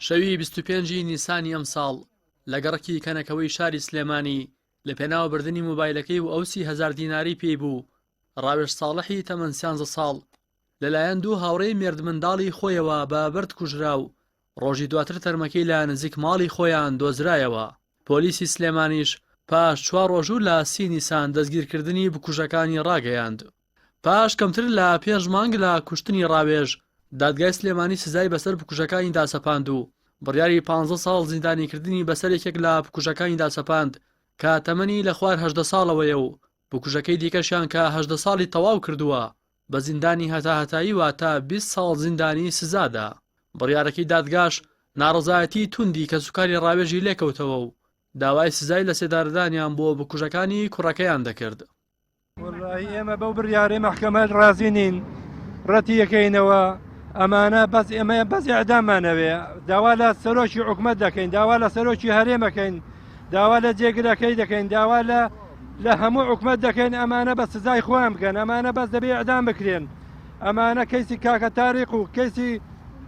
شەوی بیست و پێنج ی نیسانی ئەمساڵ لە گەڕەکی کەنەکەوەی شاری سلێمانی لە پێناو بردنی مۆبایلەکەی و ئەو سی هەزار دیناری پێی بوو ڕاوێژ ساڵحی تەمەن سیانزە ساڵ لەلایەن دوو هاوڕێی مێردمنداڵی خۆیەوە بە بەرد کوژرا و ڕۆژی دواتر تەرمەکەی لە نزیک ماڵی خۆیان دۆزرایەوە پۆلیسی سلێمانیش پاش چوار ڕۆژوو لە سی نیسان دەستگیرکردنی بکوژەکانی ڕاگەیاند پاش کەمتر لە پێنج مانگ لە کوشتنی ڕاوێژ، دادگای سلێمانی سزای بەسەر بکوژەکانیدا سەپاند و بڕیاری پانزە ساڵ زیندانیکردنی بەسەر یەکێک لە بکوژەکانیدا سەپاند کە تەمەنی لە خوار هەژدە ساڵەوەیە و بکوژەکەی دیکەشیان کە هەژدە ساڵی تەواو کردووە بە زیندانی هەتاهەتایی واتە بیست ساڵ زیندانی سزادا. بڕیارەکەی دادگاش ناڕەزایەتی توندی کەسوکاری ڕاوێژی لێکەوتەوە و داوای سزای لەسێدارەدانیان بۆ بکوژەکانی کوڕەکەیان دەکرد. وەڵاهی ئێمە بەو بڕیارەی مەحکەمە ڕازی نین ڕەتی یەکەینەوە ئەمانە بەس ئێمە بەس ئەدامانەوێ داوا لە سەرۆکی حکومت دەکەین داوا لە سەرۆکی هەرێمەکەین داوا لە جێگرەکەی دەکەین داوا لە لە هەموو حکومت دەکەین ئەمانە بە سزای خۆیان بکەن ئەمانە بەس دەبێ ئەدام بکرێن ئەمانە کەیسی کاکە تاریق و کەیسی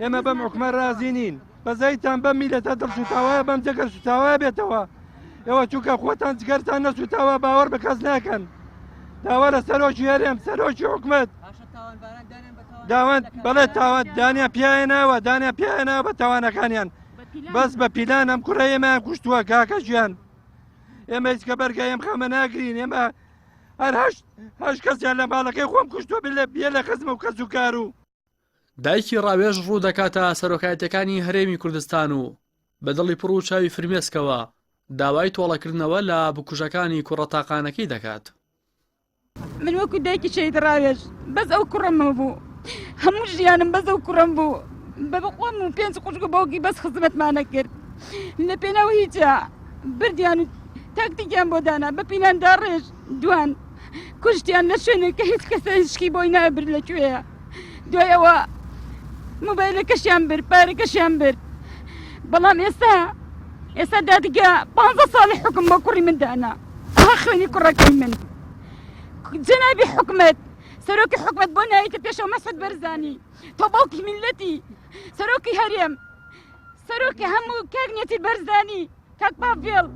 ئێمە بەم حکومە رازی نین بەزەیتان بەم میلەتە دڵسوتاوایە بەم جەگە سوتاوا بێتەوە ئێوە چووکە خۆتان جگەرتان نەسوتاوە باوەڕ بە کەس ناکەن داوا لە سەرۆکی هەرێم سەرۆکی حکومت داوان بەڵێ تاوان دانیا پیاە ناوە دانیا پیاە ناوە بە تاوانەکانیان بەس بە پیلان ئەم کوڕە ئێمەیان کوشتووە کاکە ژیان ئێمە هیچکە بەرگە ئەم خەمە ناگرین ئێمە هەر هەشت هەش کەسیان لە ماڵەکەی خۆم کوشتوە بێ لە خزم و کەس و کار و دایکی ڕاوێژ ڕوو دەکاتە سەرۆکایەتیەکانی هەرێمی کوردستان و بە دڵی پڕ و چاوی فرمێسکەوە داوای تۆڵەکردنەوە لە بکوژەکانی کوڕە تاقانەکەی دەکات. من وەکو دایکی شەید ڕاوێژ بەس ئەو کوڕمەوە بوو هەموو ژیانم بەس ئەو کوڕم بوو بە بەخۆم و پێنج قوشک و باوکی بەس خزمەتمانە کرد لە پێناو هیچە بردیان و تاکتیکیان بۆ دانا بە پیناندا ڕێژ دوان کوشتیان لە شوێنێک کە هیچ کەسە هیچکی بۆی نابرد لە کوێیە دوای ئەوە مۆبایلەکەشیان برد پارەکەشیان برد بەڵام ئێستا ئێستا دادگە پ ساڵی حکم بۆ کوڕی من دانا ئەها خوێنی کوڕەکەی من جەنابی حکومت سەرۆکی حکومت بۆ نایتە پێشەوە مەسەد بەرزانی تۆ باوکی میلەتی سەرۆکی هەرێم سەرۆکی هەموو کاگنێتی بەرزانی کاک پاڤێڵ!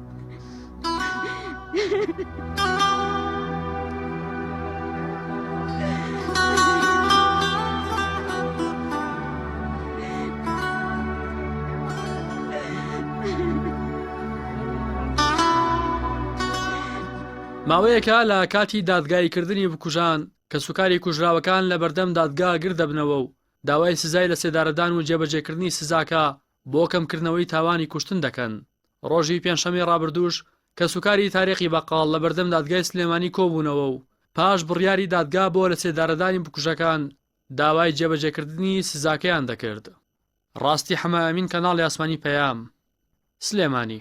ماوەیەکە لە کاتی دادگایی کردنی بکوژان کە سوکاری کوژراوەکان لە بەردەم دادگا گردەبنەوە و داوای سزای لە سێدارەدان و جێبەجێکردنی سزاکە بۆ کەمکردنەوەی تاوانی کوشتن دەکەن. ڕۆژی پێنجشەممەی ڕابردووش کەسوکاری تاریقی بەقاڵ لە بەردەم دادگای سلێمانی کۆبوونەوە و پاش بڕیاری دادگا بۆ لەسێدارەدانی بکوژەکان داوای جێبەجێکردنی سزاکەیان دەکرد. ڕاستی حەمە ئەمین کەناڵی ئاسمانی پەیام، سلێمانی.